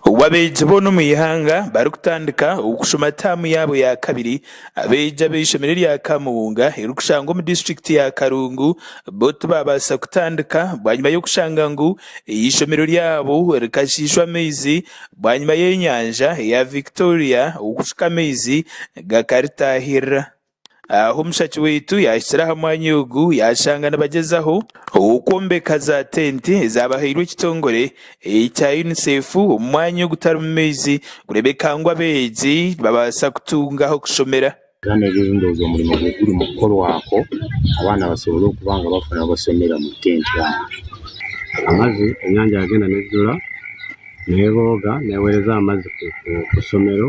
Obu abeegi boona omu ihanga barikutandika okushoma taamu yaabo ya kabiri, abeegi ab'eishomero erya Kamuunga erikushangwa omu disiturikiti ya Karungu bo tibaabaasa kutandika bwanyima y'okushanga ngu eishomero ryabo rikashiishwa amaizi bwanyima y'enyanja ya Victoria okuhika amaizi gakaritaahirira. Aho mushaki waitu yaahikire aha mwanya ogu, yaashanga nibagyezaho okwombeka za tenti ezaabahairwe ekitongore ekya UNICEF omu mwanya ogutarimu maizi kureebeka ngu abeegi nibabaasa kutunga ah'okushomera. Abaana ab'eegi ndooza omurimo gurimu kukorwaho abaana basobole okuba nga bafuna ah'okushomera omu tenti aaha. Amaju enyaanja yaagenda neezijura, neebooga, neeweereza aha maju ku ku ishomero.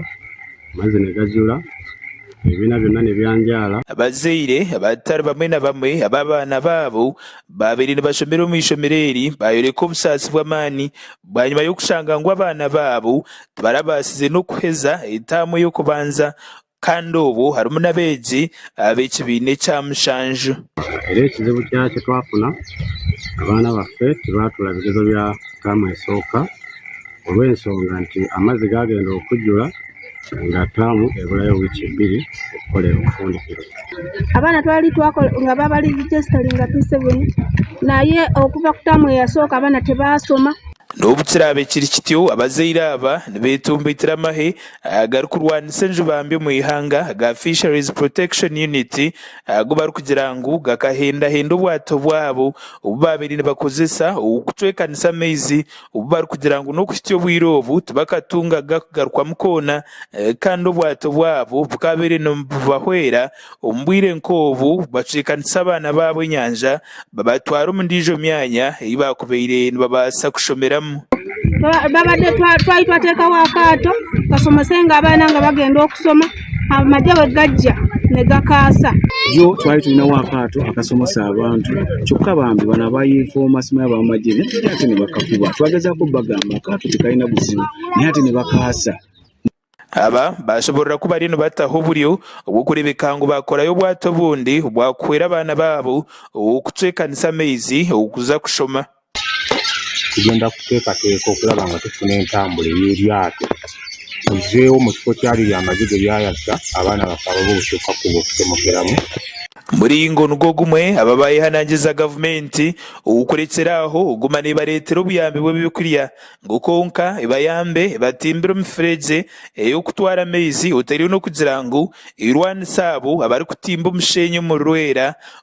Amazina gajura, ebibiina byona nibyanjaara. Abazaire abatari bamwe na bamwe abu abaana baabo baabaire nibashomera omu ishomero eri baayoreka obusaasi bw'amaani bwanyima y'okushanga ngu abaana baabo tibarabaasize n'okuheza etaamu ey'okubanza kandi obwo harimu n'abeegi ab'ekibiina ekya mushanju. Reero ekizibu kyakyo twafuna, abaana baffe tibaatuura bigezo bya taamu esooka. Olw'enshonga nti amaizi gaagenda okujura, ngatamu eburayo wiiki ibiri kukora obufundikiro. Abaana twali twakora ngu abo abari rejisitari nga P7 nayo oku bakutamu eyasooka abaana tibaashoma. N'obu kiraabe kiri kityo, abazaire aba nibeetumbaitira amahe agarikurwanisa enjubambi omu ihanga aga Fisheries Protection Unit agu barikugira ngu gakahendahenda obwato bwabo obu baabaire nibakozesa okucwekanisa amaizi Obu barikugira ngu n'okuhitsya obwire obu tibakatungaga kugarukwamu koona, kandi obwato bwabo bukaabaire nibubahwera, omu bwire nk'obu bacwekanisa abaana baabo enyanja babatwara omu ndiijo myanya ei baakubaire nibabaasa kushomeramu. Twahitsya twatekaho akaato, tukashoma senge abaana ngu bagyende kushoma. Amagye ago gagya nigakaasa. Yo twali twine ow'akaato akasomesa abantu kyokka bambi banu abayeefooma simanya b'amagye nitwe twine hati nibakafuba. Twagezaho kubagamba akaato tikarina buzibu naye hati nibakaasa. Aba baashoboorora ku bariyo nibataho oburyo obw'okureebeka ngu baakorayo obwato obundi obwakuhwera abaana baabo okucwekanisa amaizi okuza kushoma. Tugyenda kuteekateeka okuraba ngu tufuna entambura ey'eryato tuzeeho omu kifo kyaryo ryamaze gye ryayasha abaana bakaba boosheka kuza kucumukiramu. Muringo nigwo gumwe aba baayehanangiriza gavumenti okurekyera aho kuguma neebareetera obuyambi bw'eby'okurya ngu kwonka ebayambe ebatimbire emifuregye ey'okutwara amaizi otaire n'okugira ngu erwanise abo abarikutimba omusheenyi omu Lwera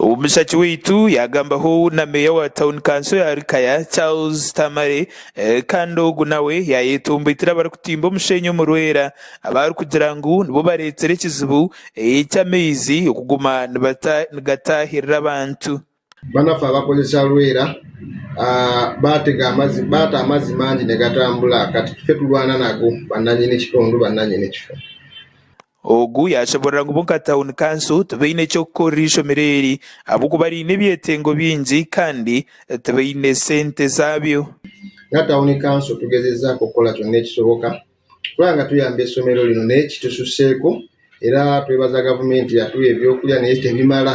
Omushaki waitu yaagamba hoowu na meeya wa tauni kanso ya Lukaya, Charles Tamale kandi ogu nawe yaayetomboitire abarikutimba omusheenyi omu Lwera abaarikugira ngu nibo bareetsire ekizibu ky'amaizi kuguma nigataahirira abantu. Banaffe abakozesa Lwera baata amaizi mangi nigatambura kati tufe turwana nago, bananyini kitundu, bananyini kifo. Ogu yaashemerera ngu bo nka tauni kanso tibaine eky'okukorera eishomero eri ahabw'okuba riine ebyetengo bingi kandi tibaine sente zaabyo. Nka tauni kanso tugezezaako kukora kyona ekishoboka kuraba nga tuyamba eishomero rino n'eki tushuseeko era twebaza gavumenti yatuha eby'okurya nayo tebimara.